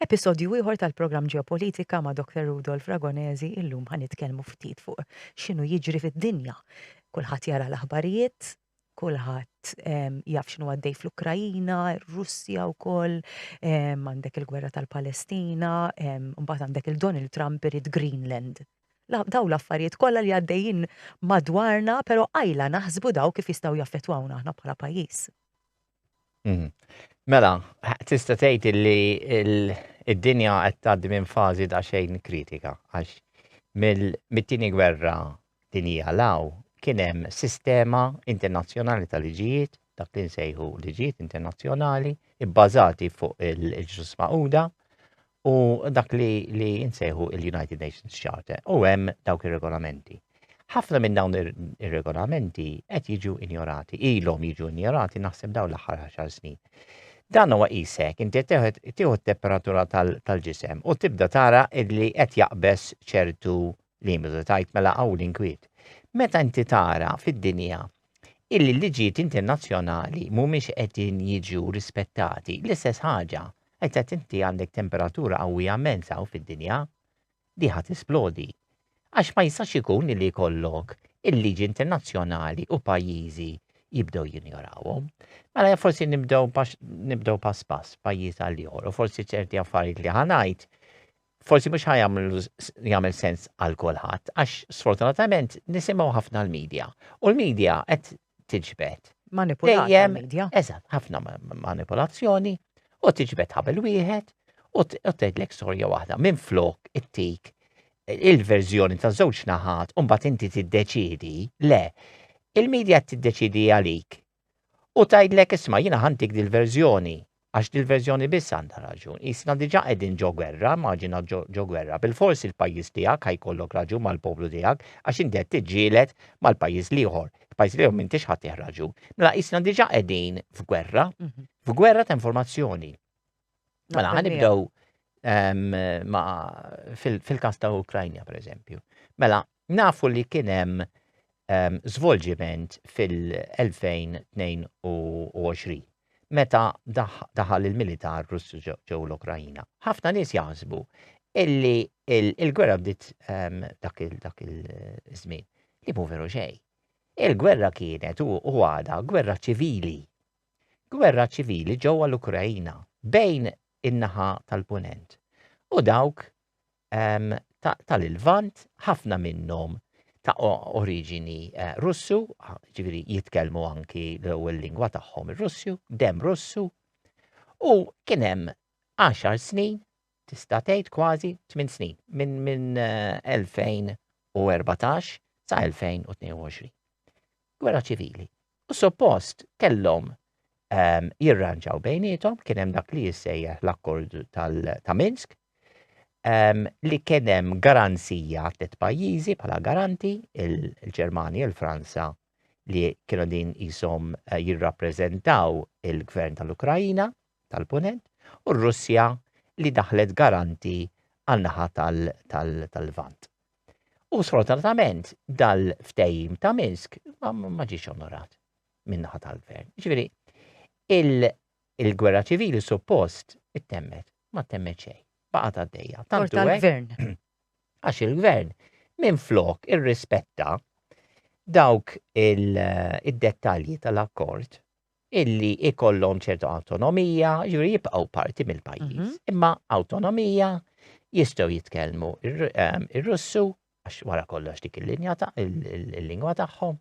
Episodju ieħor tal-programm Ġeopolitika ma' Dr. Rudolf Ragonesi illum ħa nitkellmu ftit fuq x'inhu jiġri fid-dinja. Kulħadd jara l-aħbarijiet, kulħadd ehm, jaf x'inhu għaddej fl-Ukrajina, Russja wkoll, ehm, għandek il-gwerra tal-Palestina, ehm, mbagħad għandek il-Donald Trump irid Greenland. Daw l-affarijiet kollha li għaddejjin madwarna, però għajla naħsbu daw kif jistgħu jaffettwawna aħna bħala pajjiż. Mhm. Mela, tista' tgħid li id-dinja qed tgħaddi minn fażi ta' xejn kritika għax mit-tieni gwerra dinija law kien hemm sistema internazzjonali ta' liġijiet dak li nsejħu liġijiet internazzjonali bbażati fuq il-ġus maquda u dak li, li nsejħu il-United Nations Charter u hemm dawk ir-regolamenti. Ħafna minn dawn ir-regolamenti qed jiġu injorati, ilhom jiġu injorati naħseb dawn l-aħħar 10 snin. Dan huwa qisek, inti tieħu t-temperatura tal-ġisem u tibda tara li qed jaqbeż ċertu li jmiżu tajt mela hawn l-inkwiet. Meta inti tara fid-dinja illi l-liġijiet internazzjonali mhumiex qegħdin jiġu rispettati, l-istess ħaġa, qed qed inti għandek temperatura qawwija immens hawn fid-dinja, di ħa tisplodi. Għax ma jistax ikun illi jkollok il-liġi internazzjonali u pajjiżi jibdew jinjorawhom. Mela forsi nibdew nibdew pass pass pajjiż għal ieħor u forsi ċerti affarijiet li ħanajt forsi mhux ħajamlu jagħmel sens għal kulħadd għax sfortunatament nisimgħu ħafna l-medja u l-medja qed tiġbed. Manipulazzjoni. Dejjem, eżatt, ħafna manipulazzjoni u tiġbed ħabel wieħed u tgħidlek storja waħda minn flok it-tik il-verżjoni ta' żewġ naħat u mbagħad inti tiddeċidi le il-medja tiddeċidi għalik u tgħidlek isma' jiena ħantik dil-verżjoni għax dil-verżjoni biss għandha raġun. Qisna diġà qegħdin ġo gwerra, maġina ġo gwerra, bilfors il-pajjiż tiegħek ħa jkollok raġun mal-poplu tiegħek għax inti qed tiġġieled mal-pajjiż l-ieħor. Il-pajjiż l-ieħor m'intix ħadtih raġun. Mela qisna diġà qegħdin f'gwerra, mhm. f'gwerra ta' informazzjoni. Mela, ħanibdew ehm, fil-kas ta' Ukrajna, per eżempju. Mela, nafu li kien hemm ehm, żvolġiment fil-2022 meta daħal il-militar Russu ġew l-Ukrajina. Ħafna nies jaħsbu illi il-gwerra bdiet ehm, dak il-żmien li mu veru xejn. Il-gwerra kienet u għada gwerra ċivili gwerra ċivili ġewwa l-Ukraina bejn in-naħa tal-Punent u dawk ehm, tal-Ilvant, ħafna minnhom ta' oriġini eh, Russu, ġifieri jitkellmu anki l-ewwel lingwa tagħhom ir-Russu, dem Russu, u kien hemm 10 snin tista' tgħid kważi tmien snin, minn minn 2014 sa 2022. Gwerra ċivili. U suppost kellhom ehm, jirranġaw bejnietom, kien hemm dak li jissejjaħ l-akkord ta' Minsk, ehm, li kien hemm garanzija tliet pajjiżi bħala garanti, il-Ġermanja, il-Franza, li kienu din jisom eh, jirrappreżentaw il-gvern tal-Ukrajina, tal-Punent u r-Russja li daħlet garanti għan-naħa tal-Lvant. U sfortunatament dal-ftehim ta' Minsk ma ġiex onorat min-naħa tal-gvern. Ġifieri, il-gwerra ċivili suppost ittemmet, ma temmet xejn, baqgħet għaddejja. Tant gvern Għax il-gvern minn flok irrispetta dawk id-dettalji tal-akkord illi jkollhom ċertu awtonomija, jiġifieri jibqgħu parti mill-pajjiż, imma awtonomija jistgħu jitkellmu ir-Russu għax wara kollox dik il-linja ta' il-lingwa tagħhom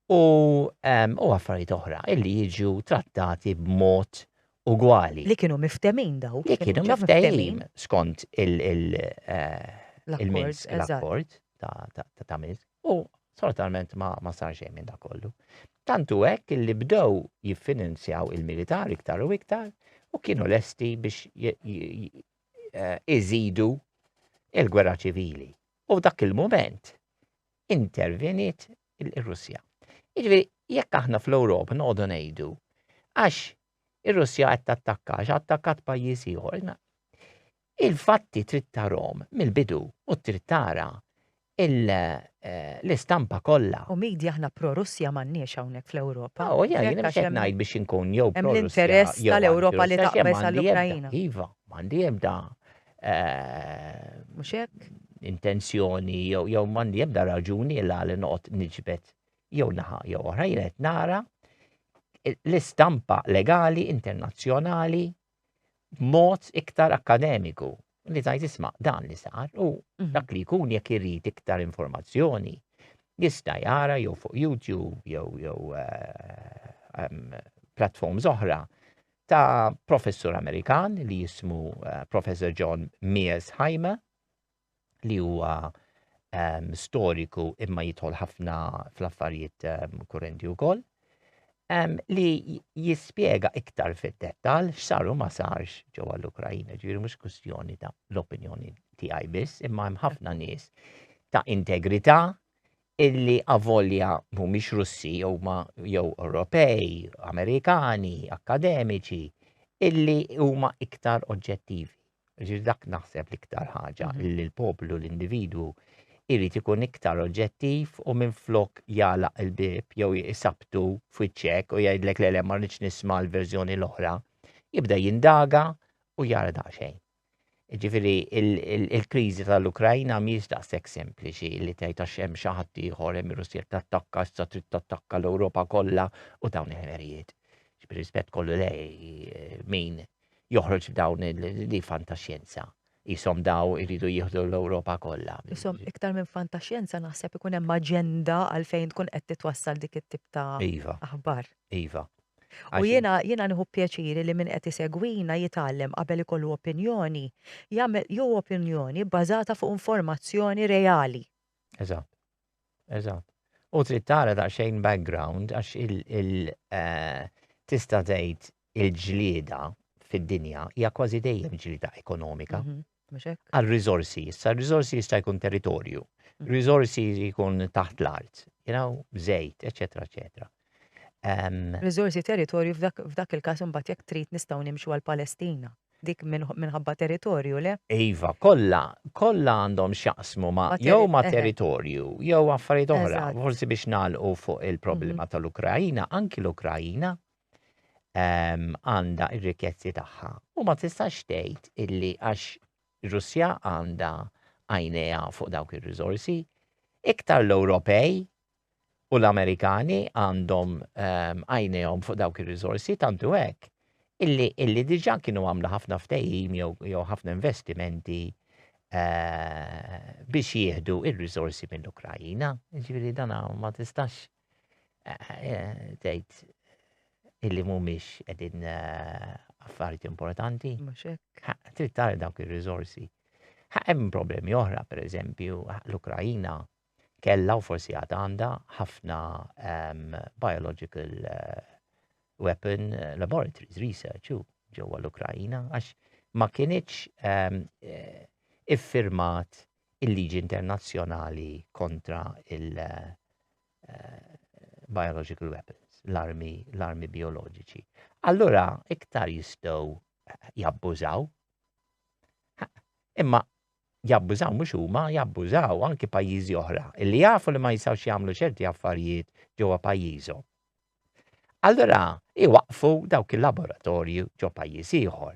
u u affarijiet oħra illi jiġu trattati b'mod ugwali. Li kienu miftemin daw. Li kienu miftemin skont il-Minsk, l-akkord ta' Minsk. U sfortunatament ma, ma sar xejn minn dak kollu. Tant hu hekk illi bdew jiffinanzjaw il-militar iktar u iktar u kienu lesti biex eh, iżidu il-gwerra ċivili. U f'dak il-moment intervenit il-Russja. Jiġifieri jekk aħna fl-Ewropa noqogħdu ngħidu għax ir-Russja qed tattakka, għax attakkat pajjiż ieħor. Il-fatti trid tarahom mill-bidu u trid tara l-istampa kollha. U media aħna pro-Russja m'għandniex hawnhekk fl-Ewropa. Oh, yeah, jiena mhux qed ngħid biex inkun jew pro-Russja. Hemm l-interess tal-Ewropa li taqbeż għall-Ukraina. Iva, m'għandi ebda. Mhux hekk? Intenzjoni jew m'għandi ebda raġuni la li noqgħod niġbed jew naħa jew oħra jiena qed nara l-istampa legali internazzjonali b'mod iktar akkademiku li tajt isma' dan li sar u mhm. dak li jkun jekk irid iktar informazzjoni jista' jara jew fuq YouTube jew jew eh, platforms oħra ta' professur Amerikan li jismu eh, Professor John Mears Haima li huwa um, storiku imma jidħol ħafna fl-affarijiet um, kurrenti wkoll um, li jispjega iktar fid-dettal x'saru ma sarx ġewwa l-Ukrajina, ġifieri mhux kwistjoni ta' l-opinjoni tiegħi biss, imma hemm ħafna nies ta' integrità illi avolja mhumiex Russi huma jew Ewropej, Amerikani, akkademiċi, illi huma iktar oġġettivi. Ġir dak naħseb l-iktar ħaġa mhm. li l-poplu, l-individwu, irrit ikun iktar oġġettiv u minn flok jala il-bib jew jisabtu fwiċċek u jgħidlek l-ele ma nisma l-verżjoni l-oħra, jibda jindaga u jara daqsxejn. Ġifieri il-kriżi tal-Ukrajna mhijiex daqshekk sempliċi li tgħid għax hemm xi ħadd ieħor hemm ir-Russja tattakka issa trid tattakka l-Ewropa kollha u dawn il-ħmerijiet. B'rispett kollu lej min joħroġ b'dawn li fantaxjenza jisom daw iridu jieħdu l-Ewropa kollha. Jisom iktar minn fantaxjenza naħseb ikun hemm aġenda għalfejn tkun qed titwassal dik it-tip ta' iva. aħbar. Iva. U jiena, jiena nieħu pjaċir li min qed isegwina jitgħallem qabel ikollu opinjoni, jagħmel jew opinjoni bbażata fuq informazzjoni reali. Eżatt. Eżatt. U trid tara daqsxejn background għax il eh, tista' tgħid il-ġlieda fid-dinja hija kważi dejjem ġlieda ekonomika. Mhm. Għal riżorsi, issa riżorsi jista' jkun territorju, mm. riżorsi jkun taħt l-art, you know, żejt, eċetera, eċetera. Riżorsi territorju f'dak il-każ imbagħad jekk trid nistgħu nimxu għal Palestina dik minħabba territorju, le? Iva, kollha, kollha għandhom xaqsmu ma' jew ma' territorju, jew affarijiet oħra, forsi biex nagħlqu fuq il-problema mhm. tal-Ukrajina, anki l-Ukrajina, ehm, għandha um, r-rikkezzi tagħha u ma tistax tgħid illi għax Russja għandha għajnejha fuq dawk ir-riżorsi, iktar l-Ewropej u l-Amerikani għandhom ehm, għajnejhom um, fuq dawk ir-riżorsi tantu hekk illi illi diġà kienu għamlu ħafna ftehim jew ħafna investimenti eh, biex jieħdu ir-riżorsi mill-Ukrajina. Ġifieri dana ma tistax Tgħid illi mhumiex qegħdin affarijiet importanti. Trid tara dawk ir-riżorsi. Hemm problemi oħra, pereżempju, l-Ukrajina kellha u forsi għad għandha ħafna ehm, biological eh, weapon eh, laboratories, research u ġewwa l-Ukrajina, għax ma kienieċ ehm, eh, iffirmat il-liġi internazzjonali kontra il- eh, biological weapons, l-armi, l-armi bioloġiċi. Allura iktar jistgħu eh, jabbużaw. Imma jabbużaw mhux huma, jabbużaw anki pajjiżi oħra li jafu li ma jistgħux jagħmlu ċerti affarijiet ġewwa pajjiżhom. Allura iwaqfu dawk il-laboratorji ġo pajjiż ieħor.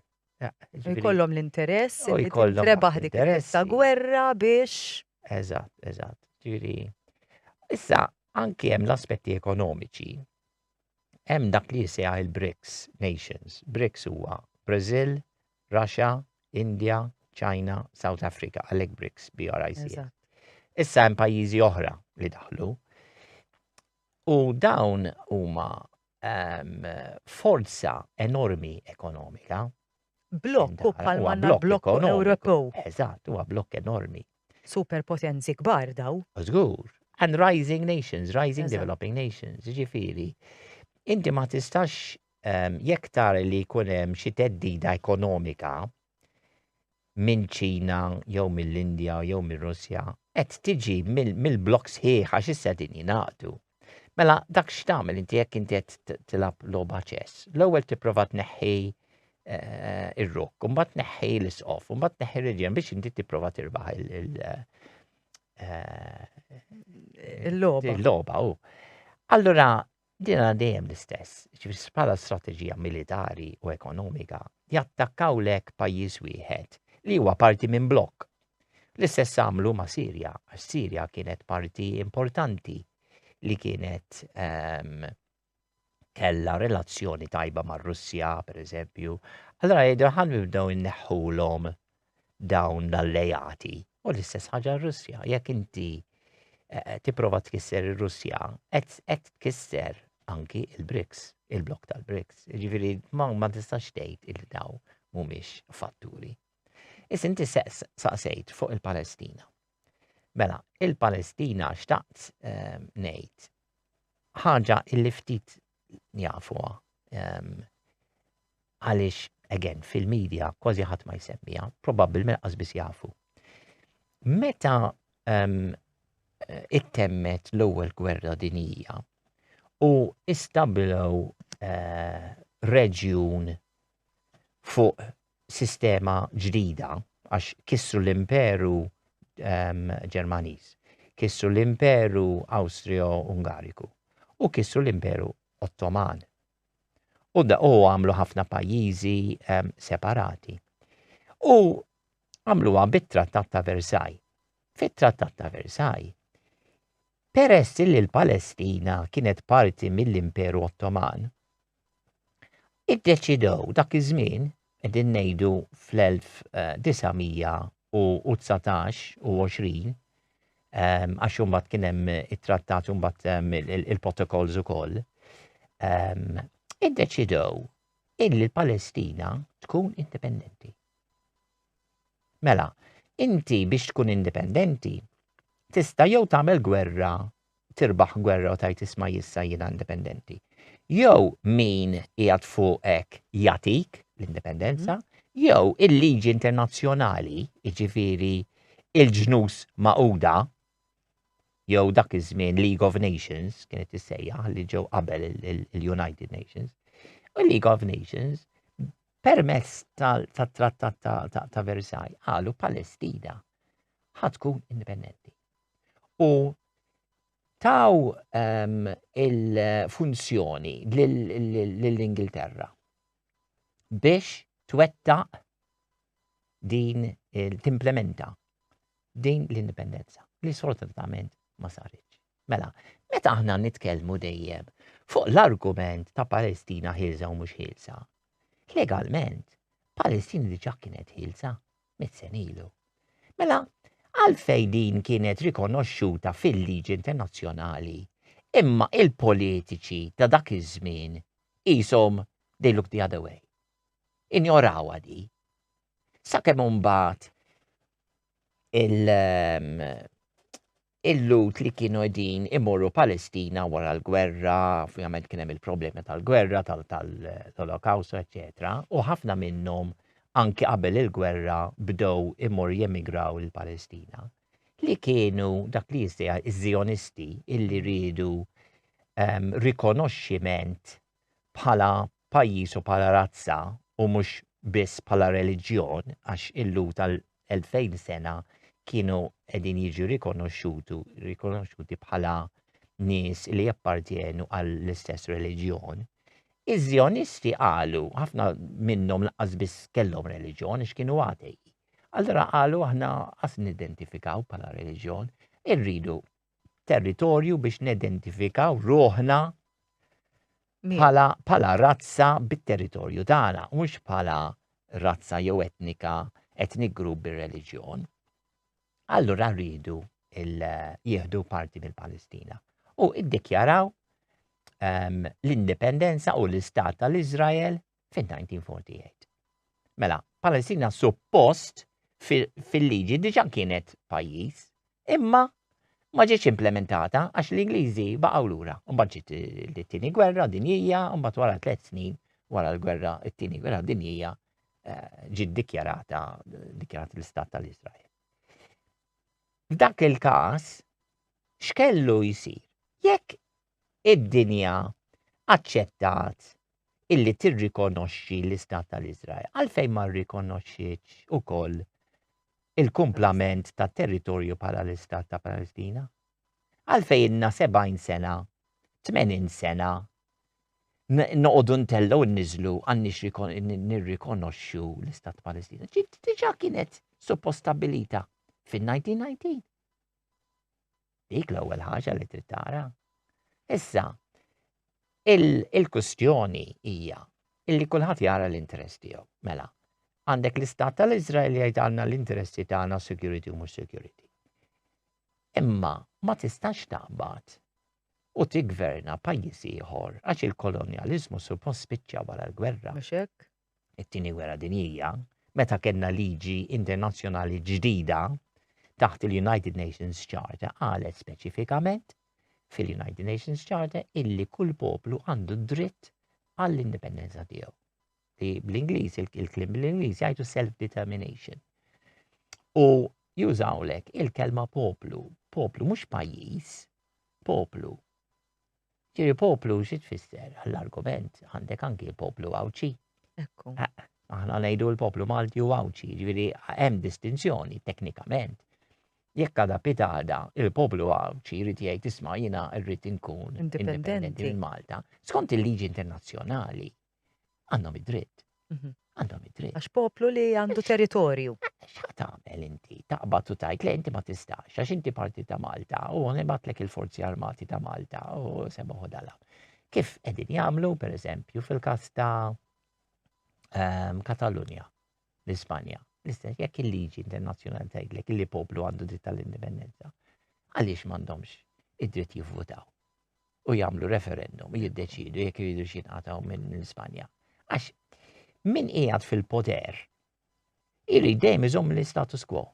Jkollhom l-interess, jkollhom rebaħ dik ta' gwerra biex. Eżatt, eżatt. Ġiri. Issa, anki hemm l-aspetti ekonomiċi. Hemm dak li jisejħ il-BRICS nations. BRICS huwa Brazil, Russia, India, China, South Africa, għalek BRICS, BRICS. Issa hemm pajjiżi oħra li daħlu. U dawn huma um, forza enormi ekonomika. Blokk u palma blokk Ewropew. Eżatt, huwa blokk enormi. Superpotenzi kbar daw. Żgur. And rising nations, rising Eżat. developing nations, ġifiri. Inti ma tistax um, jekk tar li jkun hemm xi teddida ekonomika, mill-Ċina jew mill-Indja jew mir-Russja, qed tiġi mill-blokk sħiħ għax issa din jingħaqdu. Mela dak x'tagħmel inti jekk inti qed tilgħab logħba ċess. L-ewwel tipprova tneħħi eh, ir-rukk, mbagħad tneħħi l-isqof, mbagħad tneħħi r-reġjen biex inti tipprova tirbaħ il- eh, il-logħba. Il-logħba, Allura Din għal dejjem l-istess, ġifieri bħala strateġija militari u ekonomika jattakkaw lek pajjiż wieħed li huwa parti minn blokk. L-istess għamlu ma' Sirja, għax Sirja kienet parti importanti li kienet um, kella relazzjoni tajba mar-Russja, per eżempju, allora jgħidu ħan nibdew inneħħulhom dawn l-alleati. U l-istess ħaġa r-Russja, jekk inti eh, tipprova tkisser ir-Russja, qed tkisser anki il-BRICS, il-blok tal-BRICS. Ġifieri ma, ma tistax tgħid il daw mhumiex fatturi. Is inti saqsejt fuq il-Palestina. Mela, il-Palestina xtaqt eh, ngħid ħaġa illi ftit jafuha. Ehm, għaliex, again, fil-medja kważi ħadd ma jsemmija, probabbilment qasbis jafu. Meta ehm, ittemmet l-ewwel gwerra dinija u istabilew eh, reġjun fuq sistema ġdida għax kissru l-imperu ehm, Ġermaniż, kissru l-imperu Awstrio-Ungariku u kissru l-imperu Ottoman. U da u għamlu ħafna pajjiżi ehm, separati. U għamluha bit-Trattat ta' Versailles. Fit-Trattat ta' Versailles, peress li l-Palestina kienet parti mill-Imperu Ottoman, Iddeċidew dak iż-żmien qegħdin ngħidu fl-1919 u 20 ehm, għax imbagħad kien hemm it-trattat u mbagħad ehm, il-protokolls ukoll. Ehm, iddeċidew illi l-Palestina tkun indipendenti. Mela, inti biex tkun indipendenti tista' jew tagħmel gwerra tirbaħ gwerra u tgħid isma' jissa jiena indipendenti. Jew min qiegħed fuqek jagħtik l-indipendenza, jew il-liġi internazzjonali, jiġifieri il-ġnus magħquda, jew dak iż-żmien League of Nations kienet issejjaħ li ġew qabel il-United Nations. U League of Nations permezz tat-trattat ta' Versailles qalu Palestina ħatkun indipendenti. u taw um, il-funzjoni lill-Ingilterra biex twettaq din timplementa din l-indipendenza li sfortunatament ma saritx. Mela, meta aħna nitkellmu dejjem fuq l-argument ta' Palestina ħilsa u mhux ħilsa, legalment Palestina diġà kienet ħilsa mit senilu. Mela, għalfej din kienet rikonoxxuta fil-liġi internazzjonali, imma il-politiċi ta' dak iż-żmien qishom they look the other way. Injorawha di. Sakemm imbagħad il- ehm, il-Lhud li kienu qegħdin imorru Palestina wara l-gwerra, ovvjament kien hemm il-problemi tal-gwerra, tal-Holokaustu, eċetera, u ħafna minnhom anki qabel il-gwerra bdew imorru jemigraw il-Palestina, li kienu dak li jistija iż-Zionisti illi rridu um, rikonoxximent bħala pajjiż u bħala razza u mhux biss bħala reliġjon għax il-Lhud għal elfejn sena kienu qegħdin jiġu rikonoxxutu rikonoxxuti bħala nies li jappartjenu għall-istess reliġjon. Iż-Żjonisti qalu ħafna minnhom laqqas biss kellhom reliġjon għax kienu għatej. Allura qalu aħna qas nidentifikaw bħala reliġjon, irridu territorju biex nidentifikaw ruħna bħala razza bit-territorju tagħna, mhux bħala razza jew etnika, etnik grupp bir-reliġjon. Allura rridu jieħdu parti mill-Palestina u iddikjaraw ehm, l-indipendenza u l-istat tal-Izrael fin-1948. Mela, Palestina suppost fil-liġi diġa kienet pajjiż, imma ma ġietx implementata għax l-Ingliżi baqgħu lura. Mbagħad ġiet it-tieni gwerra dinjija, mbagħad wara tliet snin wara l-gwerra it-tieni gwerra dinjija eh, ġiet dikjarata dikjarat l-istat tal-Iżrael. F'dak il-każ x'kellu jsir? Jekk id-dinja aċċettat illi tirrikonoxxi l-Istat tal-Iżrael. Għalfejn ma rrikonoxxietx ukoll il-kumplament ta' territorju bħala l-Istat ta' Palestina? Għalfejn inna 70 sena, 80 sena, noqogħdu ntellgħu nniżlu għandniex nirrikonoxxu l-Istat ta' Palestina. Ġiet diġà kienet suppost stabilita fin-1919. Dik l-ewwel ħaġa li trid tara. Issa, il-kustjoni hija illi kulħadd jara l-interess tiegħu. Mela, għandek l-istat tal-Izrael li jgħidalna l-interessi tagħna security u mhux security. Imma ma tistax taqbad u tigverna pajjiż ieħor għax il-kolonjaliżmu suppost spiċċa wara l-gwerra. it-Tieni Gwerra Dinjija, meta kellna liġi internazzjonali ġdida taħt il-United Nations Charter qalet speċifikament fil-United Nations Charter illi kull poplu għandu dritt għall-indipendenza tiegħu. Li bl-Ingliż, il-klim bl-Ingliż jgħidu self-determination. U jużawlek il-kelma poplu, poplu mhux pajjiż, poplu. Ġiri poplu xi tfisser għall-argument għandek anki l-poplu Għawdxi. Ekku. Aħna ngħidu l-poplu Malti u Għawdxi, ġifieri hemm distinzjoni teknikament. Jekk għada pitada il-poplu Għawdxi jrid jgħid isma' jiena rrid inkun indipendenti minn Malta, skont il-liġi internazzjonali. Għandhom id-dritt. Mhm. Għandhom id-dritt. Għax poplu li għandu territorju. X'ħat tagħmel inti? Taqbad u tajt le inti ma tistax, għax inti parti ta' Malta u għanebatlek il-forzi armati ta' Malta u semma ħodala. Kif edin jagħmlu, per eżempju, fil-kas ta' ehm, Katalunja, l-Ispanja, l-istess jekk il-liġi internazzjonali tgħidlek li poplu għandu dritt tal-indipendenza. Għaliex m'għandhomx id-dritt jivvutaw? u jagħmlu referendum jiddeċidu jekk iridu xinqataw minn l-Ispanja. Għax min qiegħed fil-poter irid dejjem iżomm l-status quo.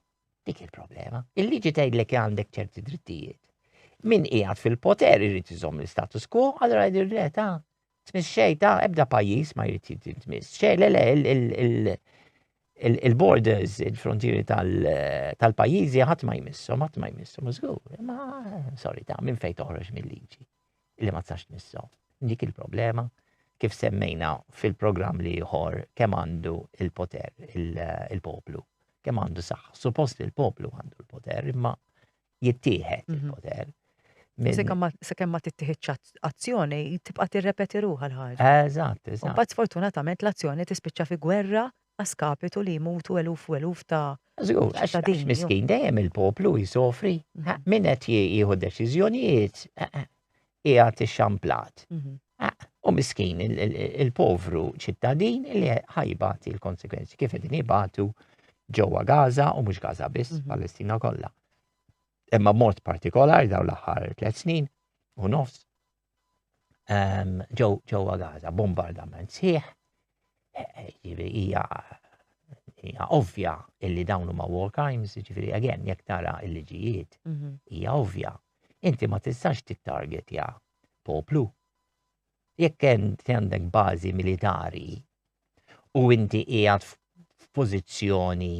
Dik il-problema. Il-liġi tgħidlek għandek ċerti drittijiet. Min qiegħed fil-poter irid iżomm l-status quo, allura jgħidir le ta' Tmiss xej ta' ebda pajjiż ma jrid jitmiss. Xej le le il-borders, il-frontieri tal-pajjiżi ħadd ma jmissom, ħadd ma jmissom, żgur, ma sorry ta' minn fejn toħroġ mill-liġi li ma tsax tmissom. Dik il-problema kif semmejna fil-programm li ieħor kemm għandu il-poter il-poplu, kemm għandu saħħa. Suppost il-poplu għandu l-poter, imma jittieħed mhm. il-poter. Se kemm ma tittieħedx azzjoni, tibqa' tirrepeti ruħha l-ħaġa. Eżatt, eżatt. Imbagħad sfortunatament l-azzjoni tispiċċa fi gwerra għaskapitu li jmutu eluf u eluf ta' Żgur, għax miskin dejjem il-poplu jisofri. Mhm. Min qed jieħu deċiżjonijiet qiegħed ixxamplat. Mhm. Ah, u miskin il-povru ċittadin li ħajbat il-konsekwenzi kif qegħdin jibatu ġewwa Gaza u mhux Gaza biss, mhm. Palestina kollha. Imma mod partikolari daw l-aħħar tliet snin u nofs ehm, ġewwa Gaza bombardament sħiħ hija hija ovvja illi dawn huma war crimes, ġifieri again jekk tara l-liġijiet mhm. hija ovvja Inti ma tistax tittargetja poplu. Jekk għandek bażi militari u inti qiegħed f'pożizzjoni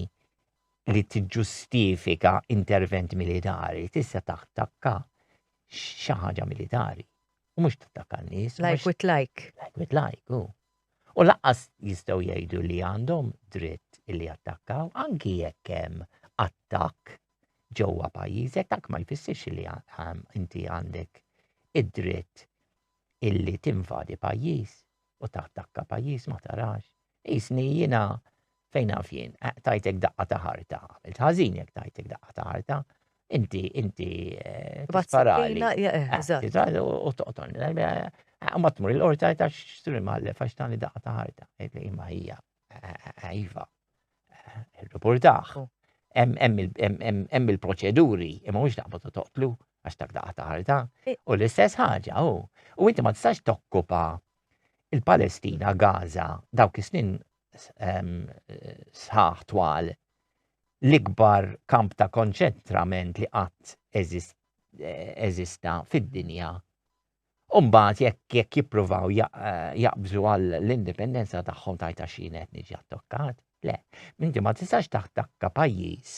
li tiġġustifika intervent militari, tista' tattakka xi ħaġa militari. U mhux tattakka n-nies. Like with like. Like with like, u. U laqqas jistgħu jgħidu li għandhom dritt li jattakkaw anki jekk hemm attakk ġewwa pajjiżek dak ma jfissirx li inti għandek id-dritt illi tinvadi pajjiż u tattakka pajjiż ma tarax. Isni jiena fejn naf jien, eh, tajtek daqqa ta' ħarta, għamilt ħażin jekk tajtek daqqa ta' ħarta, inti inti eh, tisparali. Eh, u toqtolni. Ma tmur il-qorta ta' xtri mallef għax tani daqqa ta' ħarta, imma hija. Iva, il-reportaħ. Oh. Hemm il-proċeduri, imma mhux daqbad toqtlu għax dak daqqa taħarta. Eh. U l-istess ħaġa, u. U inti ma tistax tokkupa il-Palestina, Gaza, dawk is-snin sħaħ twal l-ikbar kamp ta' konċentrament li qatt eżista fid-dinja U mbagħad jekk jekk jippruvaw jaqbżu għal l-indipendenza tagħhom tajta xi qed niġi attokkat, le, minti ma tistax taħtakka pajjiż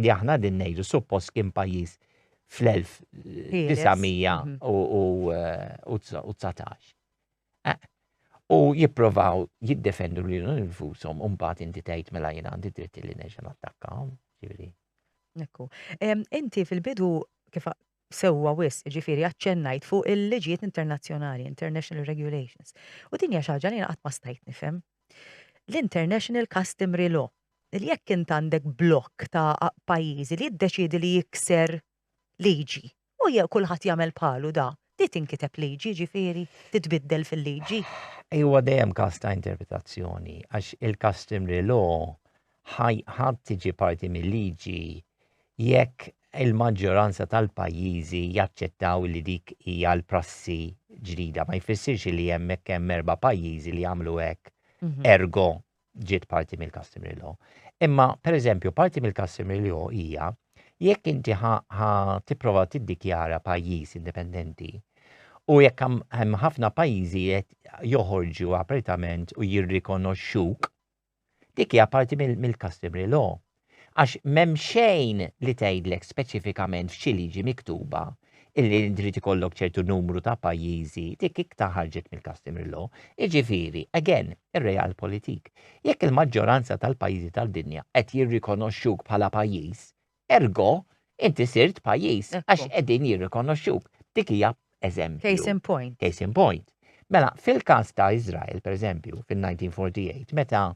li aħna din ngħidu suppost kien pajjiż fl-1919. Eh, u jipprovaw jiddefendu li l-infusom un bat inti tgħid mela jien għandi dritt li neġa' nattakkahom, ġifieri. Ekku. Inti fil-bidu kif sewwa wisq, jiġifieri aċċennajt fuq il-liġijiet internazzjonali, international regulations, u din hija xi ħaġa li jiena qatt ma stajt nifhem. L-international customary law, li jekk int għandek blokk ta' pajjiżi li jiddeċiedi li jikser liġi u kulħadd jagħmel bħalu da, di tinkiteb liġi, jiġifieri titbiddel fil-liġi? Huwa dejjem każ ta' interpretazzjoni għax il-customary law ħadd tiġi parti mill-liġi jekk il-maġġoranza tal-pajjiżi jaċċettaw li dik hija l-prassi ġdida. Ma jfissirx li hemmhekk hemm erba' pajjiżi li jagħmlu hekk mhm. ergo ġiet parti mill-customary law. Imma, per eżempju, parti mill-customary law hija jekk inti ħa tipprova tiddikjara pajjiż indipendenti u jekk hemm ħafna pajjiżi qed joħorġu apertament u jirrikonoxxuk Dik hija parti mill-customary law. Għax m'hemm xejn li tgħidlek speċifikament f'xi liġi miktuba illi inti trid ikollok ċertu numru ta' pajjiżi, dik iktar ħarġet mill-customary law. Jiġifieri, again, ir-realpolitik. Jekk il-maġġoranza tal-pajjiżi tad-dinja qed jirrikonoxxuk bħala pajjiż, Ergo, inti sirt pajjiż għax qegħdin jirrikonoxxuk. Dik hija eżempju. Case in point. Case in point. Mela, fil-każ ta' Iżrael, pereżempju, fin-1948, meta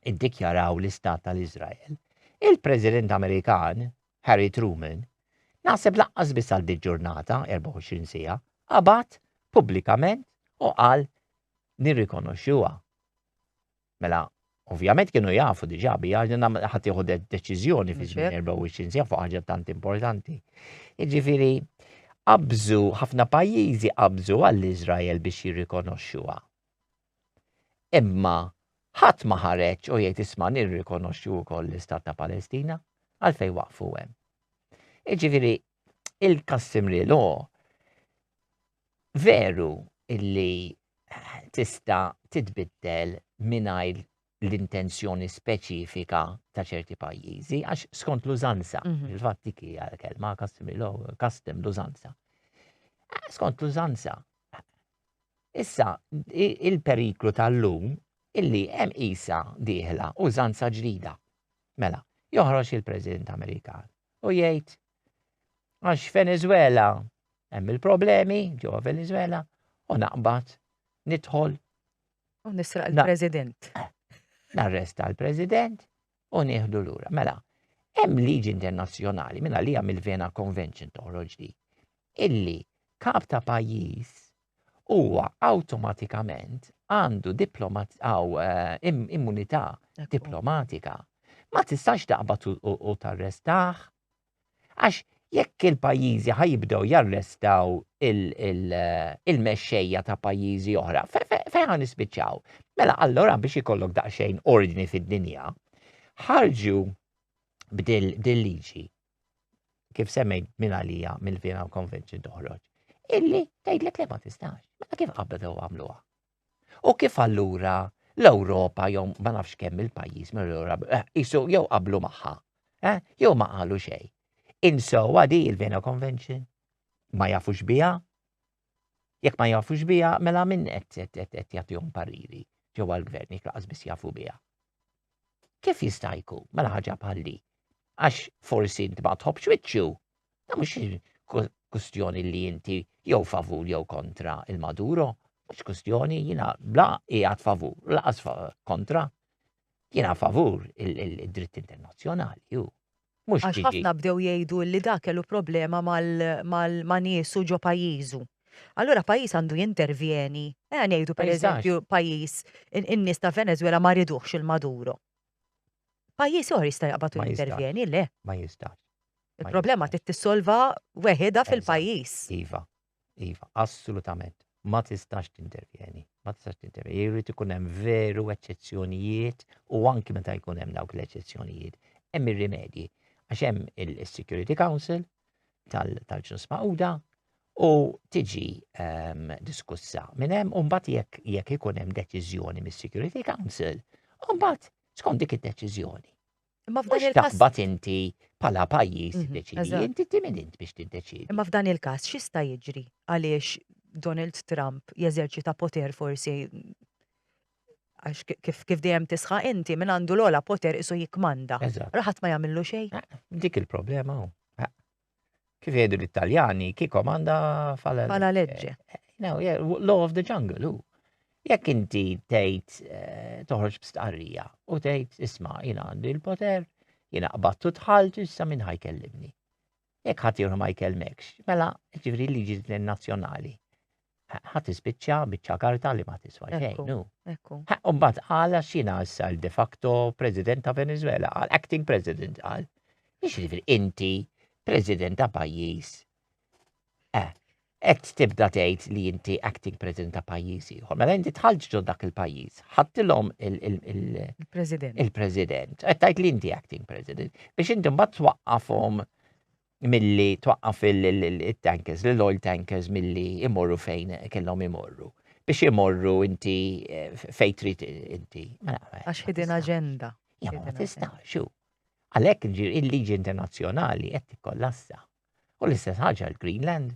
iddikjaraw l-istat tal-Iżrael, il-President Amerikan, Harry Truman, naħseb laqqas biss għal ġurnata, 24 siegħa, qabad pubblikament u qal nirrikonoxxuha. Mela, ovvjament kienu jafu diġà bi għax din ħadd jieħu deċiżjoni fi żmien 24 sija fuq ħaġa tant importanti. Jiġifieri qabżu ħafna pajjiżi qabżu għall-Iżrael biex jirrikonoxxuha. Imma ħadd ma ħareġ u jgħid isma' nirrikonoxxu wkoll l-Istat ta' Palestina għalfejn waqfu hemm. Iġifieri il-customary law veru illi tista' titbiddel mingħajr l-intenzjoni speċifika ta' ċerti pajjiżi, għax skont l-użanza, mhm. il-fatt dik hija kelma custom law, custom l-użanza. Eh, skont l-użanza. Issa, il-periklu tal-lum illi hemm isa diħla użanza ġdida. Mela, joħroġ il-President Amerikan u jgħid għax Venezuela hemm il-problemi ġewwa Venezuela u naqbad nidħol u nisraq il-President. Narresta l-President u nieħdu lura. Mela, hemm liġi internazzjonali minn għalija mill-Vena Convention toħroġ di illi kap ta' pajjiż huwa awtomatikament għandu diplomat għaw eh, immunità diplomatika. Ma tistax taqbad u tarrestaħ. Għax jekk il-pajjiżi ħajibdew jarrestaw eh, il-mexxejja ta' pajjiżi oħra, fejn għan nispiċċaw? Mela allora biex ikollok daqsxejn ordni fid-dinja, ħarġu b'dil liġi kif semmejt minn għalija mill-Vienna Convention toħroġ, illi tgħidlek li ma tistax. Mela kif qabel u għamluha? U kif allura l-Ewropa jew ma nafx kemm il-pajjiż mill-Ewropa eh, isu jew qablu magħha, eh, jew ma qalu xejn. Insowa di il-Vienna Convention, ma jafux biha, Jekk ma jafux biha, mela min qed jagħtihom pariri ġewwa l-gvern jekk laqas biss jafu biha. Kif jista' jkun mela ħaġa bħalli? Għax forsi int ma tħobbx wiċċu, ta' mhux kustjoni li inti jew favur jew kontra il-Maduro, mhux kustjoni jiena bla qiegħed favur, laqas kontra. Jiena favur id-dritt internazzjonali hu. Mhux Għax ġdidi. ħafna bdew jgħidu illi dak kellu problema mal, mal, ma' niesu ġo pajjiżu. Allura pajjiż għandu jintervjeni. Ejja ngħidu Ma jistax. pereżempju pajjiż, in, in-nies ta' Venezwela ma riduhx il-Maduro. Pajjiż ieħor jista' jaqbad u Ma jistax. jintervjeni, le. Ma jistax. Ma Il-problema jistax. trid tissolva weħidha fil-pajjiż. Eżatt, iva. Iva, assolutament. Ma tistax tintervjeni. Ma tistax tintervjeni. Jrid ikun hemm veru eċċezzjonijiet u anki meta jkun hemm dawk l-eċċezzjonijiet. Hemm ir-rimedji. Għax hemm il-Security Council tal-ġnus Mauda u tiġi ehm, diskussa minn hemm u mbagħad jekk jekk ikun hemm deċiżjoni mis-Security Council, u mbagħad skont dik id-deċiżjoni Imma f'dan il-każ. Taqbad inti bħala pajjiż mhm, deċidi, inti timin int biex tiddeċidi. Imma f'dan il-każ x'jista' jiġri għaliex Donald Trump jeżerċita poter forsi għax kif kif dejjem tisħa inti minn għandu l-ola poter isu jikmanda. Raħat ma jagħmillu xejn. Eh, dik il-problema hu. Eh, Kif jgħidu l-Italjani, chi komanda fala Fala legge. No, yeah, law of the jungle, u. Jekk inti tgħid eh, toħroġ b'stqarrija u tgħid isma' jiena għandi l-poter, jiena qbattu tħaltu issa minn ħajkellimni. Jekk ħadd ieħor ma jkellmekx, mela ġifri liġi nazzjonali Ħa tispiċċa biċċa karta li ma tiswa xejn. Ekku, ekku. U mbagħad qal għax jiena issa de facto President ta' Venezuela, qal acting President qal. Jiġifieri inti President ta' pajjiż. Eh, qed tibda tgħid li inti acting President ta' pajjiż ieħor. Mela inti tħallġ ġod dak il-pajjiż, ħadtilhom il-President. Il-President. Qed tgħid li inti acting President biex inti mbagħad twaqqafhom milli twaqqaf il-tankers, l-oil tankers milli imorru fejn kellhom imorru. Biex imorru inti eh, fejn trid inti. Mela, eh, Għax hidden agenda. Ja ma tista' xu. Għalhekk il-liġi internazzjonali qed tikkollassa. U l-istess ħaġa l-Greenland.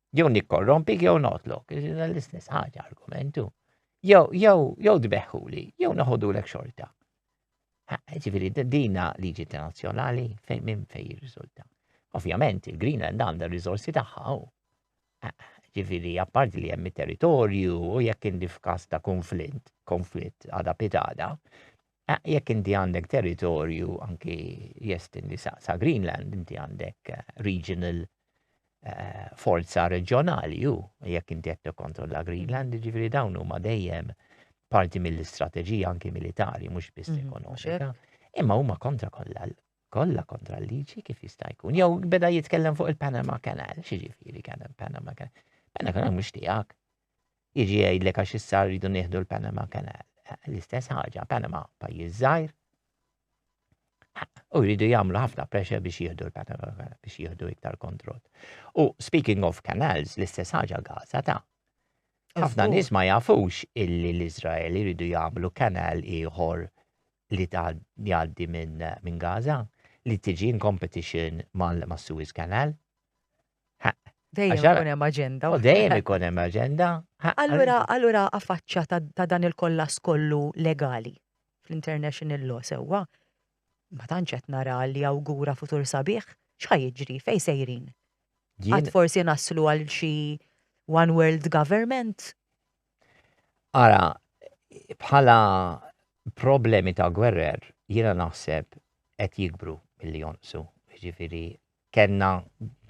jew nikkorrompik jew notlok, l-istess ħaġa argumentu. Jew jew jew tbeħħuli, jew noħodulek xorta. Ġifieri dina liġi internazzjonali fejn minn fejn jirriżulta. Ovvjament il-Greenland għandha r-riżorsi tagħha u ġifieri apparti li hemm territorju u jekk indi f'każ ta' konflitt, konflitt għada pitada, Jekk inti għandek territorju anki jestendi sa, sa Greenland, inti għandek eh, regional eh, forza reġjonali u jekk inti qed tikkontrolla Greenland, ġifieri dawn huma dejjem parti mill-istrateġija anki militari, mhux biss mhm, ekonomika, imma huma kontra kollha kollha kontra l-liġi kif jista' jkun. Jew beda jitkellem fuq il-Panama Canal, xi ġifieri kien Panama Canal. Panama Canal mhux tiegħek. jiġi jgħidlek għax issa rridu nieħdu l-Panama Canal. L-istess ħaġa, Panama pajjiż żgħir, u jridu jagħmlu ħafna pressure biex jieħdu l-Panama Canal, biex jieħdu iktar kontroll. U speaking of canals, l-istess ħaġa Gaza ta' ħafna nies ma jafux illi l-Izrael jridu jagħmlu kanal ieħor li jgħaddi minn Gaza li tiġi in competition mal-Suez Canal. Dejjem ikun hemm aġenda. Oh, dejjem ikun hemm aġenda. Allura, allura affaċċja ta' dan il-kollas kollu legali fl-international law sewwa. Ma tantx qed nara li awgura futur sabiħ, x'ħaj jiġri fejn sejrin. Għad forsi naslu għal xi one world government Ara, bħala problemi ta' gwerrer, jiena naħseb qed jikbru milli jonqsu. Ġifieri kellna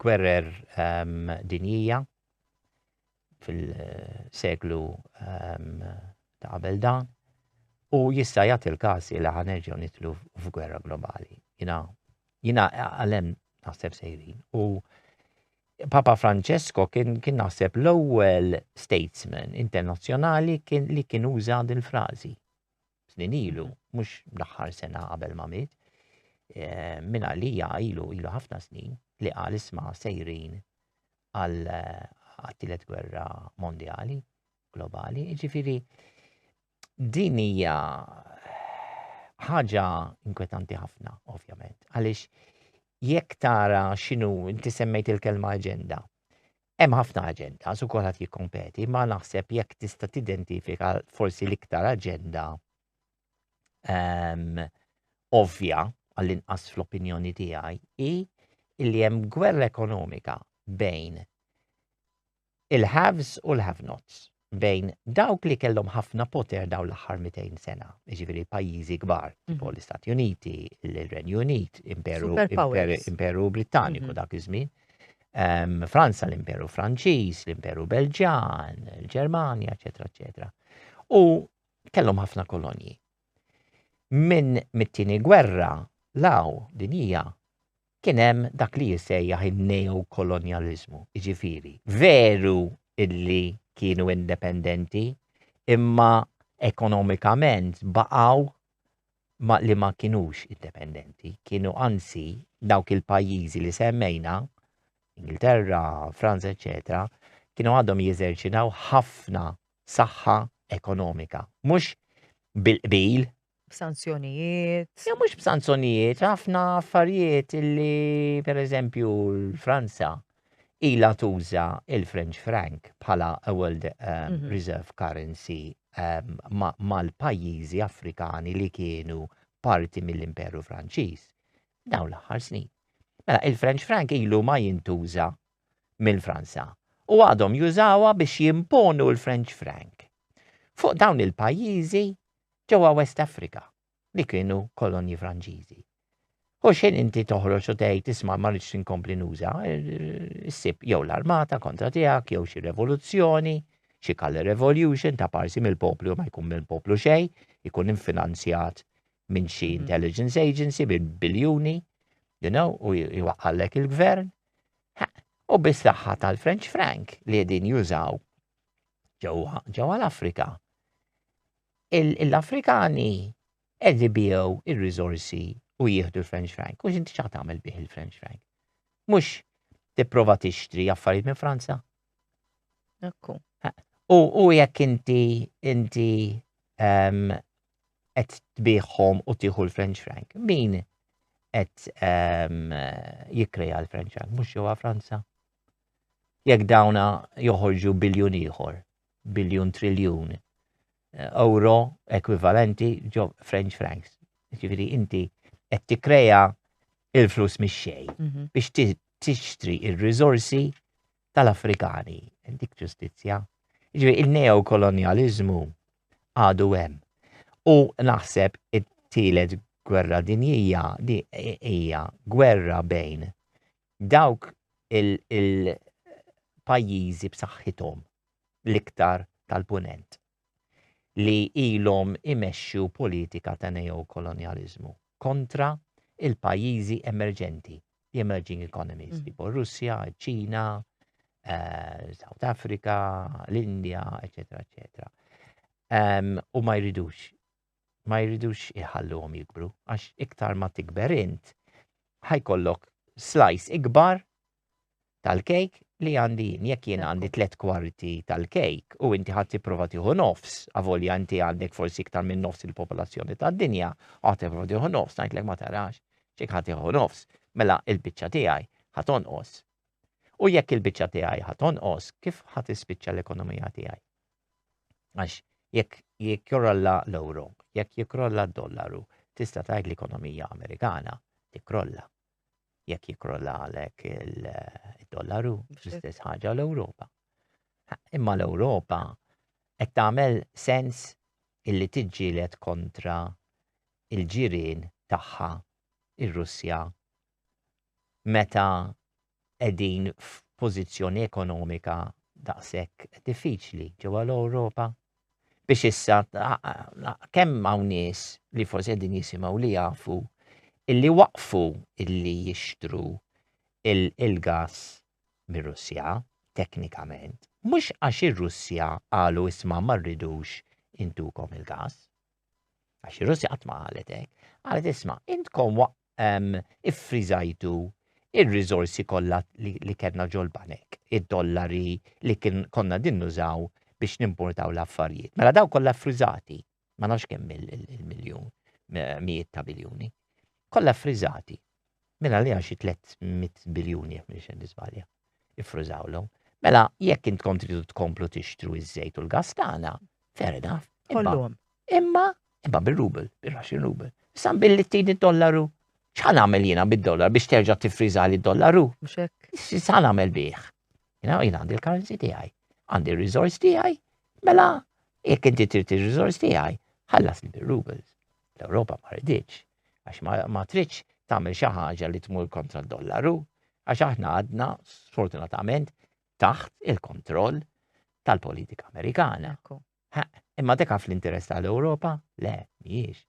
gwerrer ehm, dinjija fil-seklu ehm, ta' qabel dan u jista' jagħti l-każ li ħanerġgħu nitlu f'gwerra globali. Jiena jiena għalem naħseb sejrin u Papa Francesco kien kien naħseb l-ewwel statesman internazzjonali kien li kien uża din frażi. Snin ilu, mhux l-aħħar sena qabel ma miet, eh, minn għalija ilu ilu ħafna snin li qal isma' sejrin għal eh, għat-tielet gwerra mondjali globali, ġifiri Din hija ħaġa inkwetanti ħafna, ovvjament, għaliex jekk tara x'inhu inti semmejt il-kelma aġenda. Hemm ħafna aġenda, su kulħadd jikkompeti, ma naħseb jekk tista' tidentifika forsi l-iktar aġenda ehm, ovvja għall-inqas fl-opinjoni tiegħi hi li hemm gwerra ekonomika bejn il-haves u l-have nots, bejn dawk li kellhom ħafna poter dawn l-aħħar 200 sena, jiġifieri pajjiżi kbar, mhm. tipo l-Istati Uniti, l-Renju Unit, Imperu, Imperu Britanniku mhm. dak iż-żmien, ehm, Franza, l-Imperu Franċiż, l-Imperu Belġan, il-Ġermanja, eċetera, eċetera. U kellhom ħafna kolonji. Minn mit-tieni gwerra law din hija kien hemm dak li jissejjaħ in-neokolonjaliżmu, jiġifieri veru illi kienu independenti imma ekonomikament baqgħu ma li ma kinux independenti, kienu anzi dawk il-pajjiżi li semmejna, Ingilterra, Franza, eċetera, kienu għadhom jeżerċitaw ħafna saħħa ekonomika. Mhux bil-qbil. B'sanzjonijiet. Ja mhux b'sanzjonijiet, ħafna affarijiet illi pereżempju l-Franza ila tuża il-French franc bħala a world um, mm -hmm. reserve currency um, mal-pajjiżi Afrikani li kienu parti mill-Imperu Franċiż dawn l-aħħar snin. Mela, il-French franc ilu ma jintuża minn Franza u għadhom jużawha biex jimponu l-French franc fuq dawn il-pajjiżi ġewwa West Africa li kienu kolonji Franċiżi. U xħin inti toħroġ u tgħid isma' ma rridx inkompli nuża, issib jew l-armata kontra tiegħek jew xi revoluzzjoni, xi kalle revolution ta' parsi mill-poplu ma jkun mill-poplu xej, ikun infinanzjat minn xi mhm. intelligence agency bil biljuni, you know, u jwaqqallek il-gvern. U bis-saħħa tal-French Frank li qegħdin jużaw ġewwa l-Afrika. L-Afrikani qed ibiegħu ir rizorsi u jieħdu l-French Frank. U x'inti ċa tagħmel bih il-French Frank? Mhux tipprova tixtri affarijiet minn Franza? Ekku. U jekk inti inti ehm, qed tbieħhom u tieħu l-French frank, min qed ehm, jikkreja l-French frank mhux ġewwa Franza? Jekk dawna joħorġu biljun ieħor, biljun triljun euro ekwivalenti ġo French francs. Ġifieri inti qed tikkrea il-flus mix-xejn mhm. biex tixtri il-rizorsi tal-Afrikani. Dik ġustizzja. Ġifieri il-neokolonializmu għadu hemm. U naħseb it-tielet gwerra dinjija di hija gwerra bejn dawk il-pajjiżi b'saħħithom l-iktar tal-Punent li ilhom imexxu politika ta' neokolonjaliżmu kontra il-pajjiżi emerġenti, the emerging economies, mm. tipo Russja, ċina, eh, South Africa, l-Indja, eccetera, eccetera. Um, u ma jridux ma jridux iħalluhom jikbru għax iktar ma tikber int ħajkollok slice ikbar tal-kejk li għandi jien. Jekk jien għandi tliet kwarti tal-kejk u inti ħadd tipprova tieħu nofs, avolja inti għandek forsi iktar minn nofs il-popolazzjoni tad-dinja, għad tipprova tieħu nofs, ngħidlek ma tarax, x'jekk ħadd tieħu nofs, mela il-biċċa tiegħi ħadd onqos. U jekk il-biċċa tiegħi ħadd onqos, kif ħadd ispiċċa l-ekonomija tiegħi? Għax jekk jikkrolla l-euro, jekk jikkrolla d-dollaru, tista' tgħid l-ekonomija Amerikana tikkrolla. Jekk jikkrolla għalek il-dollaru, l-istess ħaġa l-Ewropa. Imma l-Ewropa qed tagħmel sens illi tiġġieled kontra il-ġirien tagħha ir-Russja meta qegħdin f'pożizzjoni ekonomika daqshekk diffiċli ġewwa l-Ewropa biex issa kemm hawn nies li forsi qegħdin jisimgħu li jafu illi waqfu illi jixtru il-gas mir-Russja teknikament mhux għax ir-Russja qalu isma' ma rridux intukom il-gas. Għax ir-Russja qatt ma qalet hekk. Qalet isma' intkom iffriżajtu r-riżorsi kollha li kellna ġol-banek, id-dollari li konna din nużaw biex nimportaw l-affarijiet. Mela daw kollha ffriżati, ma nafx kemm il-miljun, mijiet ta' biljuni. Kollha ffriżati. Mela li xi 300 biljuni jekk m'iniex qed niżbalja. iffrużawlhom. Mela, jekk intkom tridu tkomplu tixtru iż-żejt u l-gas tagħna, fair enough. Kollhom. Imma, imma bir-rubel, bir-Russian rubel. Issa billi tini dollaru, x'ħan għamel jiena bid-dollar biex terġa' tiffriża li dollaru? X'ħan għamel bih? Jina jina għandi l-currency tiegħi, għandi r-resource tiegħi, mela jekk inti trid ir-resource tiegħi, ħallasni bir-rubels. L-Ewropa ma riditx, għax ma tridx tagħmel xi ħaġa li tmur kontra d-dollaru, għax aħna għadna sfortunatament taħt il-kontroll tal-politika Amerikana. Imma deka fl-interess tal-Ewropa? Le, mhijiex.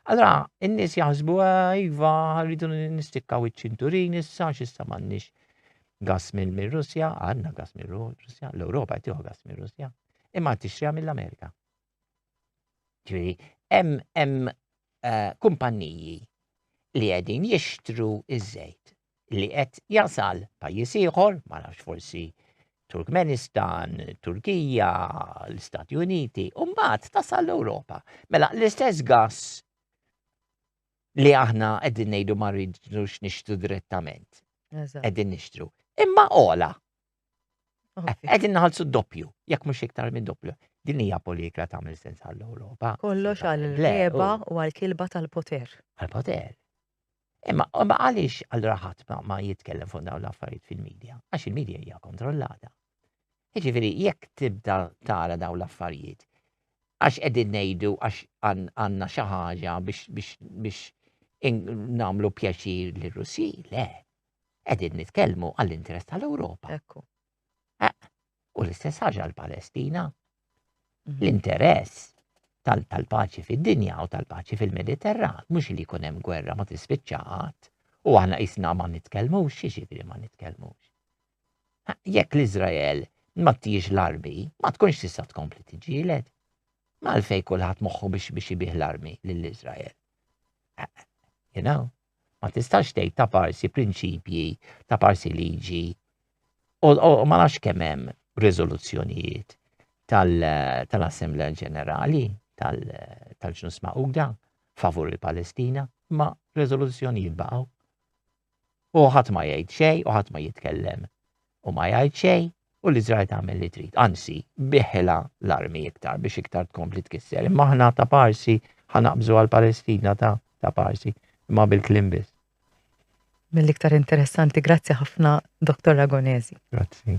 Allora, in-nies jaħsbu iva rridu nistikkaw iċ-ċinturin issa x'issa m'għandniex gas minn Russja, għandna gas minn Russja, l-Ewropa qed gas minn Russja, imma tixtriha mill-Amerika. Ġifieri, hemm hemm eh, kumpanniji li qegħdin jixtru iż-żejt li qed jasal pajjiż ieħor, ma nafx forsi Turkmenistan, Turkija, l-Istati Uniti, u mbagħad tasal l-Ewropa. Mela l-istess gas li aħna qegħdin ngħidu ma rridux nixtru direttament. Eżatt. Qegħdin nixtru. Imma ola, Qegħdin naħalsu doppju, jekk mhux iktar minn doppju. Din hija polikra tagħmel sens għall-Ewropa. Kollox għall-leba u għall-kilba tal-poter. Għall-poter. Imma għaliex għal raħat ma jitkellem fuq dawn l-affarijiet fil-medja? Għax il-medja hija kontrollata. Jiġifieri jekk tibda tara dawn l-affarijiet, għax qegħdin ngħidu għax għandna xi ħaġa biex nagħmlu pjaċir lir-Russi, le, Qegħdin nitkellmu għall-interess tal-Ewropa. Ekku. Eh, u l-istess ħaġa l-Palestina. Mhm. L-interess tal-paċi fid-dinja u tal-paċi fil-Mediterran, mhux li jkun hemm gwerra ma tispiċċaqat, u aħna isna ma nitkellmux, xiġifieri ma nitkellmux. Jekk l-Iżrael ma tijiex l-armi, ma tkunx tista' tkompli tiġilet. Malfej kulħadd moħħu biex biex ibih l-armi lill-Iżrael. You know, Ma tistax tgħid ta' parsi prinċipji, ta' parsi liġi. U ma nafx kemm hemm riżoluzzjonijiet tal-Assemblea Ġenerali tal-ġnus Magħquda favur il-Palestina, ma riżoluzzjonijiet baqgħu. U ħadd ma jgħid xejn u ħadd ma jitkellem. u ma jgħid xejn u l-Iżrael tagħmel li trid. Anzi, biħilha l-armi iktar biex iktar tkompli tkisser. Imma aħna ta' parsi ħanaqbżu għal Palestina ta' ta' parsi, imma bil-klim biss. Mill-iktar interessanti, grazzi ħafna Dr. Agonesi. Grazzi.